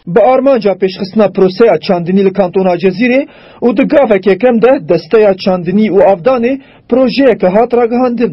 Bi armanca pêşxistina proseya çandinî li kantona Cezîrê û di gaveke kem de desteya çandinî û avdanê projeyeke hat ragihandin.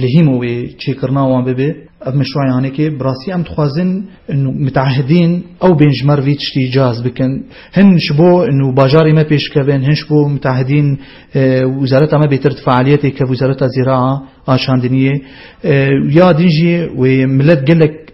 Li hîm û wê çêkirina wan bibe ev meşruayanekê bi rastî em dixwazin û miteahidîn ew bên ji me re vî tiştî cihaz bikin hin ji bo û bajarê me pêş kevin hin ji bo miteahidîn wizareta me bêtir di fealiyetê kev wizareta zêra a çandiniyê ya din jî wê milet gelek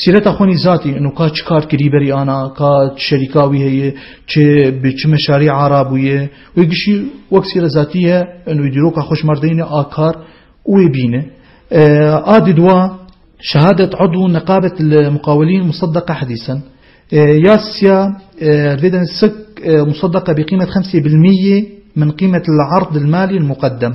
Sîreta xwe nîzatî û ka çi kar kirî berî ana, ka çi şerîka wî heye, çi bi çi meşarî ara bûye. Wê gişî wek sîret zatî ye û wê dîroka xwe ji mar deyne a kar û wê bîne. A di dua şehadet Edû Neqabet li Muqawelîn Museddeka Hedîsen ya siya di vê demê sik Museddeka bi qîmet xemsê bil mîyê min qîmet li erd il malî il muqeddem.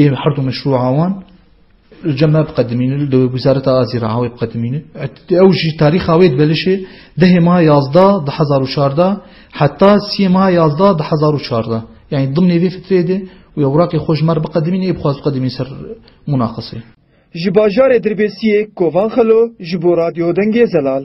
Ê herdu meşrûa wan li cem me biqedimînin, li dewê Wizareta Azî re awê biqedimînin. Ew ji tarîxa wê dibelişê dehê maha yazdeh di hezar û çardeh heta siyê maha yazdeh di hezar û çardeh yanî dimnê vê fitreyê de û ya Wraqê xwe ji me re biqedimînin ê bixwaz biqedimînin ser munaqeseyê. Ji bajarê Dirbêsiyê Kovan Xelo ji bo Radyo Dengê Zelal.